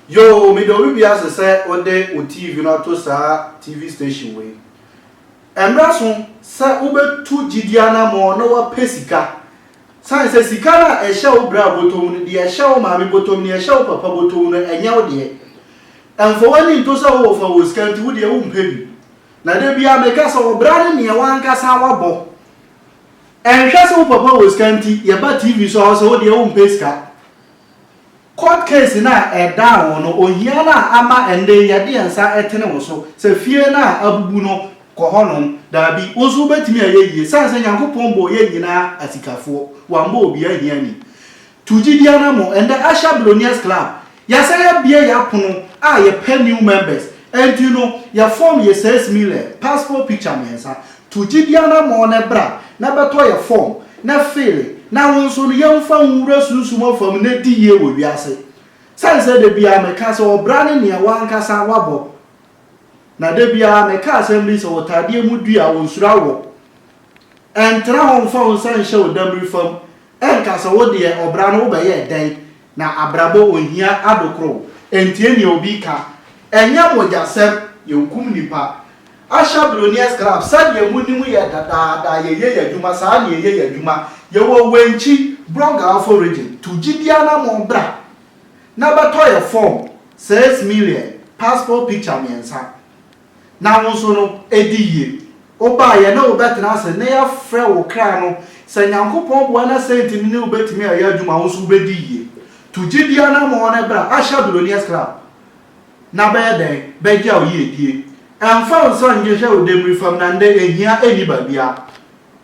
Yoo mede obi bi ase sɛ wode wo TV no ato saa TV station wei. Ɛmmra so sɛ wobɛtu gyidie anammɔn na woapɛ sika San sɛ sika no a ɛhyɛ wo bra bɔtɔ mu no, deɛ ɛhyɛ wo maame bɔtɔ mu, deɛ ɛhyɛ wo papa bɔtɔ mu no, ɛnyɛ wo deɛ. Mfa w'ani nto sɛ wowɔ fa wɔ sika nti, wo deɛ wompɛ bi. Na da biara meka sɛ ɔbra ne neɛ w'ankasa wabɔ. Ɛnhwɛ sɛ wo papa wɔ sika nti, yɛba TV so a ɔsɛ wo deɛ wompɛ sika. Court case no a ɛdaa wo no, ohia no a ama ɛnnɛ yi yɛde yɛn nsa ɛtene wo so sɛ fie no a abubu no kɔ hɔ nom, daabi, wo nso wobɛtumi ayɛ yie sane sɛ Nyankopɔn bɔɔ yɛn nyinaa asikafoɔ, wammɔ obiara ahiani. Tu gyidie anamɔ, ɛnnɛ Usher Billionaires Club, yɛasan abue yɛn apono a yɛpɛ new members, ɛnti no yɛ form yɛ sɛs million, passport picture mmiɛnsa, To gyidi anammɔn na bra na bɛtɔ yɛ fɔm na feel na wo nso no yɛmfa wo nwura sunsum afam na di yie wɔ wiase. Sane sɛ da biara meka sɛ ɔbra ne nea w'ankasa wabɔ. Na da biara meka asɛm bi sɛ ɔtadeɛ mu dua ɔnsuro awɔ. Ɛntena hɔ mfa wo nsa nhyɛ wo dammiri fam Ɛnka sɛ wo deɛ ɔbra no wobɛyɛɛ dɛn na abrabɔ ohia adokoro wo. Ɛntie nea obi ka. Ɛnyɛ mogyasɛm, yɛnkum nnipa. Asha Billionaires Club, sɛdeɛ monim yɛ dadaada, yɛyɛ yɛn adwuma, saa na yɛyɛ yɛn adwuma. Yɛwɔ Wenchi, Brong-Ahafo Region. To gye biara na mo bra na bɛtɔ yɛn fɔm, six million, passport picture mmiɛnsa. Na wo nso no, di yie. Wobaa yɛ ne wo bɛtena ase ne yɛafrɛ wo kra no, sɛ Nyankopɔn boa na sɛnti ne ne wo bɛtumi ayɛ adwuma a wo nso wo bɛdi yie. Tu gyedie anamɔn no bra Asia Billionaires Club na bɛyɛ dɛn bɛgya wo yiedie. Ɛmfa wo nsa nnwehwɛ wo demmire fam na ndɛ ɛhia nni baabiara.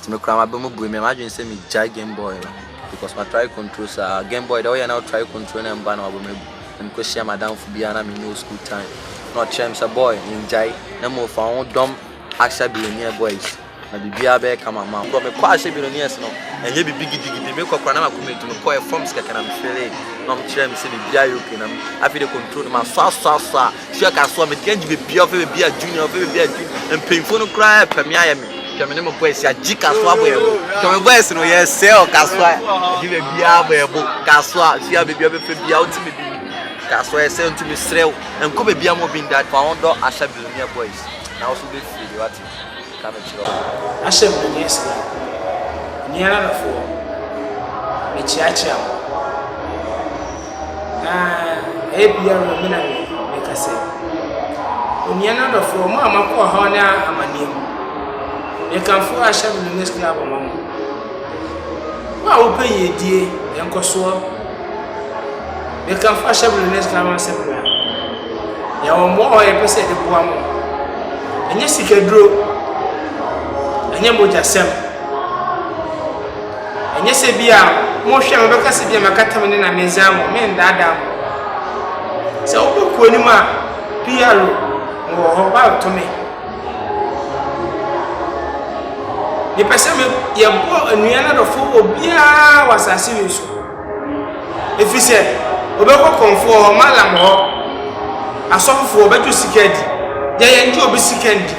Nti me kura m'aba mu bue me m'adwene sɛ me gyae game boy no because ma try control saa game boy deɛ ɔyɛ na try control na mba na wabɔ mu agu na mekɔ hyia madamfo bi a na me no school time na ɔkyerɛ me sɛ boy ngyae na mo fa ho dɔm ahyɛ billionaire boys na biribiara bɛyɛ kama ma bro mekɔ ahyɛ billionaires no ɛnyɛ bibi gidigidi mekɔ kora na makɔ mɛtu mekɔ forms kɛkɛ na mefele na ɔmo kyerɛ me sɛ biribiara yɛ okay na afei de control no masɔ asɔ asɔ a tua ka so a mede agye baabi a ɔfɛ baabi a junior ɔfɛ baabi a junior mpanyinfoɔ no koraa ɛpɛ me ayɛ me hwɛ me ne mo boys agye ka so abɔ yɛn bo hwɛ me boys no yɛ sɛ ɔka so a agye baabi a abɔ yɛn bo ka so a tua baabi a ɔbɛpɛ bi a ɔte me bi ka so a ɛsɛ nti mesrɛ wo nkɔ baabi a mo bi nda fa wɔn dɔ ahyɛ billionaire boys na wɔso bɛfiri de wate ka no kyerɛ wo. Ahyɛ me mene Islam nua no foɔ mekyeakyea mo na ɛyɛ biara no me na me meka sɛ onua no adɔfoɔ mo a mo akɔ ɔhaw ne amaneɛ mu mekamfo ahyɛ me mene Islam ma mo wo a wo pɛ yiedie nkɔsoɔ Yɛka afahyɛbere ne sika ho asɛm wie a, yɛwɔ mmoa a yɛpɛ sɛ yɛde boa mo. Ɛnyɛ sikaduro, ɛnyɛ mogyasɛm, ɛnyɛ sɛ bi a mohwɛ a mobɛka sɛ bi a makata me ne na medze ama mo, mendaadaa mo. Sɛ wobɛkɔ anim a, PR, mewɔ hɔ, woato me. Mepɛ sɛ me yɛbɔ nua no adɔfo wɔ biara wɔ asase wei so. Ɛfiri sɛ, wɔbɛkɔ kɔmfoɔ hɔ, malam hɔ, asɔfofoɔ wɔbɛgye sika adi. Deɛ yɛn gye obi sika ndi.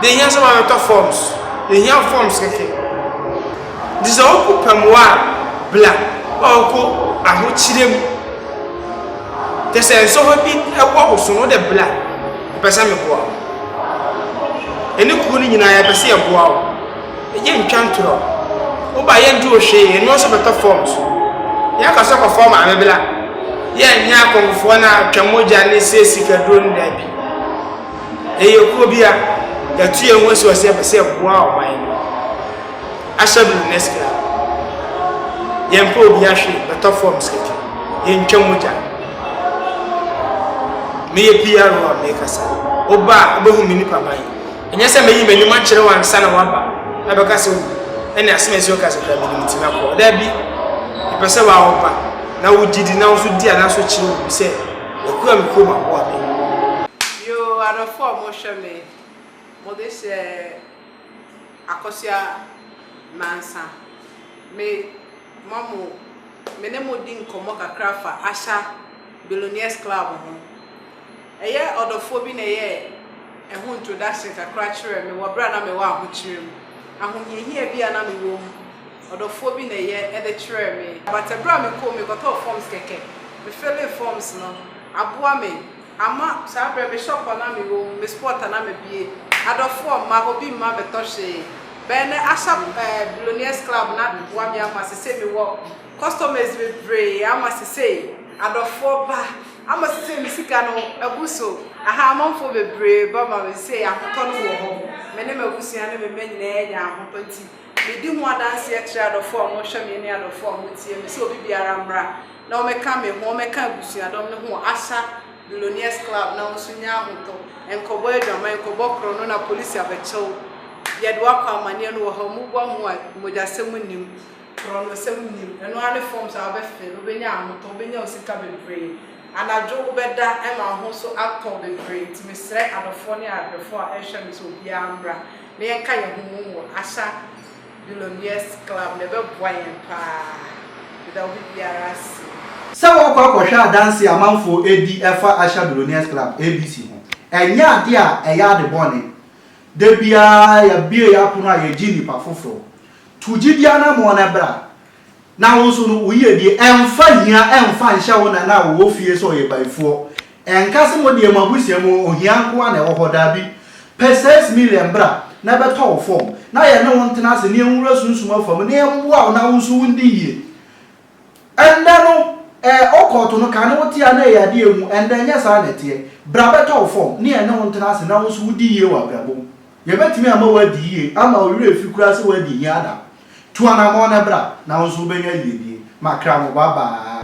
Deɛ ɛhia sɛ wɔabɛtɔ forms. Deɛ ɛhia forms kɛkɛ. Nti sɛ wokɔ pɛmoa a, bla a wokɔ ahokyerɛ mu. Kyɛ sɛ nsɔhɔ bi wɔ wo so no, wode bla. Mepɛ sɛ meboa wo. Yɛne kuo no nyinaa yɛpɛ sɛ yɛboa wo. Yɛ ntwa ntorɔ. Woba yɛ nte ohwee, yɛne wo nso bɛtɔ fɔm so. Yɛ ka sɛ kɔfɔɔ maame bla. Yɛ nyɛ akɔmfofoɔ no a twa mogya ne sɛ sika duro no daabi. Yɛyɛ kuo bia. Yɛatu yɛn ho asi hɔ sɛ yɛpɛ sɛ yɛboa ɔman no. Ahyɛ me nurse kra Yɛmpɛ obia hwee bɛtɔ fɔm sɛdwo Yɛntwa mogya Meyɛ PRO a mekasa Woba a wobɛhu me nipa ban Ɛnyɛ sɛ mɛyi m'anim akyerɛ wo ansa na woaba Ɛbɛka sɛ owu ɛne asem ɛsi woka sɛ kra menim nti mɛkɔ Daabi Mepɛ sɛ wo a woba na wogye di na wo nso di anaso kyerɛ obi sɛ Yɛkura me kurom aboa me Yoo adɔfoɔ a mohwɛ me Mode hyɛ. Akosua Mensah, Me ma mo me ne mo di nkɔmmɔ kakra fa Asha Billionaires Club ho. Ɛyɛ ɔdɔfoɔ bi na ɛyɛɛ ɛho introduction kakra kyerɛɛ me wɔ berɛ a na mewɔ ahokyerɛ mu. Ahohiahia bi a na mewɔ mu, ɔdɔfoɔ bi na ɛyɛ ɛde kyerɛɛ me. But ɛberɛ a mekɔɔ mu, mekɔtɔɔ forms kɛkɛ. Me filling forms no aboa me Ama saa berɛ me shop a na me wɔ mu, me spot a na me bue, adɔfoɔ mma, obi mma me tɔ hwee. Bɛyɛ nnɛ Asap ɛɛ Billionaires Club no aboa me ama sesei me wɔ customers bebree ama sesei adɔfoɔ ba, ama sesei me sika no abu so, ahaa amanfoɔ bebree ba ma me sesei ahotɔ no wɔ hɔ, me ne m'abusua ne me mma nyinaa nya ahotɔ nti. Medi ho adanseɛ kyerɛ adɔfoɔ a wɔhwɛ me ne adɔfoɔ a wɔtie me sɛ obi biara mmra na wɔmmɛka me ho, wɔmmɛka abusuadɔm no ho wɔ Asa Billionaires Club na wo nso nya ahotɔ. Nkɔbɔ adwaman, nkɔbɔ korɔno na polisi abɛkyɛ wo. Yɛde wo akɔ amanneɛ no wɔ ha. Wɔbua mu a, mogyasɛm nnim, korɔnosɛm nnim. Ɛno ara ne forms a wobɛfill, wobɛnya ahotɔ, wobɛnya wo sika bebree. Anadwo wobɛda ma wo ho nso atɔ bebree. Nti mesrɛ adɔfoɔ ne adɔfoɔ a ɛhwɛ me sɛ obiara mmra. na yɛnka yɛn ho mmom wɔ Asha Billionaires Club no, ɛbɛboa yɛn paa. Meda obi biara ase. Sɛ wɔkɔ akɔhwɛ adanse a amanfo di ɛfa Asha Billionaires Club, ABC, ho, ɛnyɛ ade a ɛyɛ ade bɔne. Da biara yɛbue yɛn apono a yegye nnipa foforo. To gyidi anammɔn na bra. Na wo nso no, wo yiedie ɛmfa hia ɛmfa nhyɛ wo nana a ɔwɔ fie sɛ ɔyɛ bayifoɔ. Ɛnka sɛ mo deɛ mo abusua mu ohia nko ara na ɛwɔ hɔ, daabi. Pɛ six million bra na ɛbɛtɔ wo fam, na yɛne wo ntena ase na yɛnwura sunsum afa mu na yɛmmoa wo na wo nso wondi yie. Ɛnnɛ no, ɛ, ɔkɔɔto no, kane wote a na ɛyɛ adeɛ a ɛhu, ɛnnɛ ɛnyɛ saa na ɛteɛ. Bra bɛtɔ wo fam, na yɛne wo ntena ase na wo nso wodi yie wɔ abrabɔ mu. Yɛbɛtumi ama woadi yie ama wo werɛ afi koraa sɛ woadi hiada. Tu anammɔn na bra, na wo nso wobɛnya yiedie. Ma kra mo babaa.